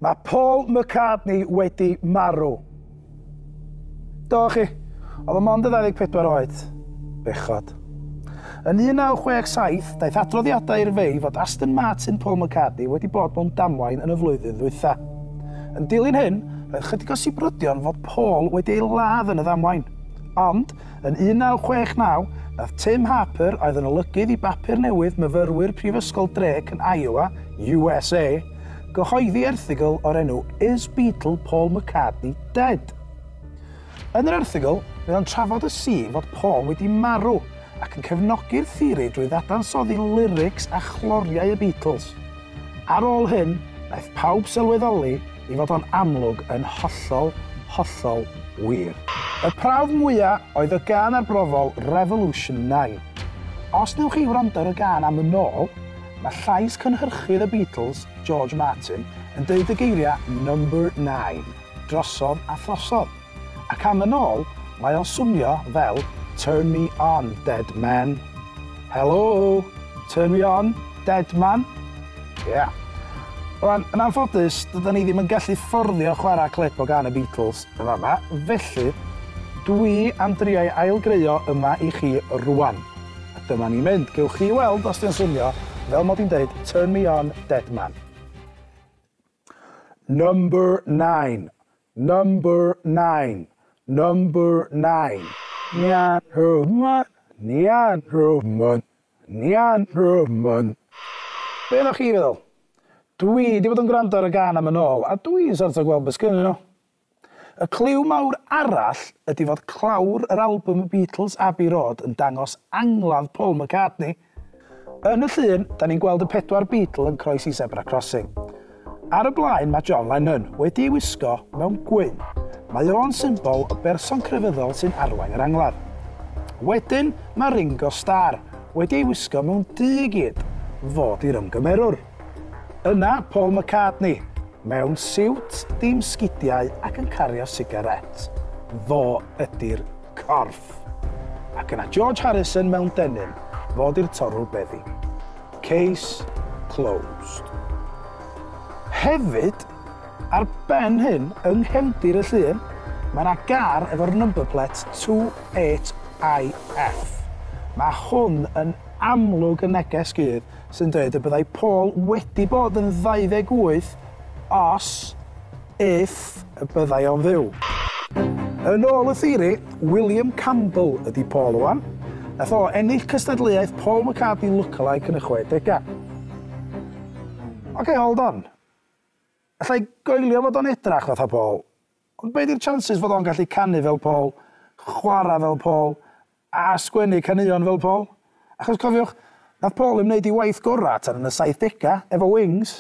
Mae Paul McCartney wedi marw. Do chi, oedd y mond y 24 oed. Bechod. Yn 1967, daeth adroddiadau i'r fei fod Aston Martin Paul McCartney wedi bod mewn damwain yn y flwyddyn ddwytha. Yn dilyn hyn, roedd chydig o sibrydion fod Paul wedi ei ladd yn y ddamwain. Ond, Yn 1969, daeth Tim Harper, oedd yn olygydd i bapur newydd myfyrwyr Prifysgol Drake yn Iowa, USA, gyhoeddi erthygl o'r enw Is Beatle Paul McCartney Dead? Yn yr erthygl, mae o'n trafod y sîn fod Paul wedi marw, ac yn cefnogi'r theori drwy ddadansoddi lyrics a chloriau y Beatles. Ar ôl hyn, wnaeth pawb sylweddoli i fod o'n amlwg yn hollol, hollol wir. Y prawf mwya oedd y gân arbrofol Revolution 9. Os newch chi wrando ar y gân am yn ôl, mae llais cynhyrchydd y Beatles, George Martin, yn deud y geiriau 'Number Nine' drosodd a throsodd. Ac am yn ôl, mae o'n swnio fel Turn me on, dead man. Helo! Turn me on, dead man? Ie. Yeah. Rwan, yn anffodus, dyda ni ddim yn gallu fforddio chwarae clip o gan y Beatles yn fama, felly dwi am drioi ailgreuo yma i chi rwan. A dyma ni mynd, gewch chi weld os di'n swnio fel mod i'n deud Turn me on, dead man. Number 9. Number nine, number nine. Nian Rhufmon, Nian Rhufmon, Nian Rhufmon. Be o'ch chi feddwl? Dwi 'di bod yn gwrando ar y gan am yn ôl a dwi'n sort o gweld be sgynnyn nhw. Y cliw mawr arall ydi fod clawr yr albwm y Beatles Abbey Road yn dangos angladd Paul McCartney Yn y llun, da ni'n gweld y pedwar Beatle yn croesi Zebra Crossing. Ar y blaen mae John Lennon, wedi ei wisgo mewn gwyn. Mae o'n symbol o berson crefyddol sy'n arwain yr angladd. Wedyn mae Ringo Starr, wedi ei wisgo mewn du i gyd, fod i'r ymgymerwr. Yna Paul McCartney, mewn siwt dim sgidiau ac yn cario sigarét. Fo ydi'r corff. Ac yna George Harrison mewn denim, fo di'r torrwr beddi. Case closed. Hefyd, ar ben hyn, yng nghefndir y llun, mae yna gar efo'r number plate 28IF. Mae hwn yn amlwg yn neges gudd sy'n dweud y byddai Paul wedi bod yn 28 os, if, y byddai o'n fyw. Yn ôl y theori, William Campbell ydi Paul Owen. Nath o ennill cystadleuaeth Paul McCartney lookalike yn y chwedegau. Ok, hold on. Alla i goelio fod o'n edrach fatha Paul. Ond be di'r chances fod o'n gallu canu fel Paul, chwarae fel Paul, a sgwennu caneuon fel Paul? Achos cofiwch, nath Paul ddim neud ei waith gora tan yn y saithdega, efo Wings.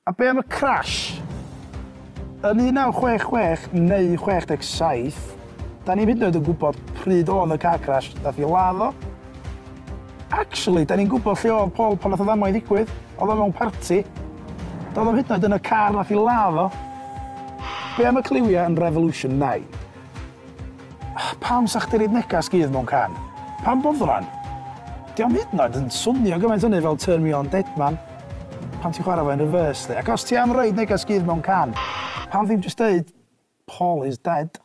A be am y crash? Yn 1966 neu 67, da ni'm hyd yn oed yn gwybod pryd oedd y car crash nath i ladd o. Actually, 'da ni'n gwybod lle oedd Paul pan nath y ddamwain ddigwydd. Oedd o mewn parti. Doedd o'm hyd yn oed yn y car nath i ladd o. Be am y cliwia yn Revolution 9? Pam sa chdi roid negas gudd mewn can? Pam boddran? Dio'm hyd yn oed yn swnio gymaint hynny fel Turn Me On Deadman pan ti'n chwarae fo yn reverse 'lly. Ac os ti am roid negas gudd mewn can, pam ddim jyst deud Paul is dead?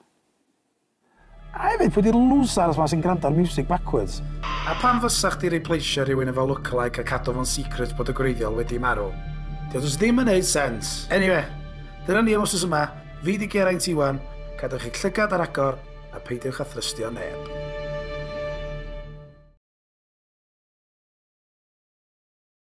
A hefyd, pwy 'di'r losers 'ma sy'n gwrando ar miwsig backwards? A pam fysa chdi replaceio rhywun efo lookalike a cadw fo'n secret bod y gwreiddiol wedi marw? Dio jyst ddim yn neud sense. Eniwe, dyna ni am wsos yma, fi 'di Geraint Iwan, cadwch eich llygad ar agor a peidiwch â thrystio neb.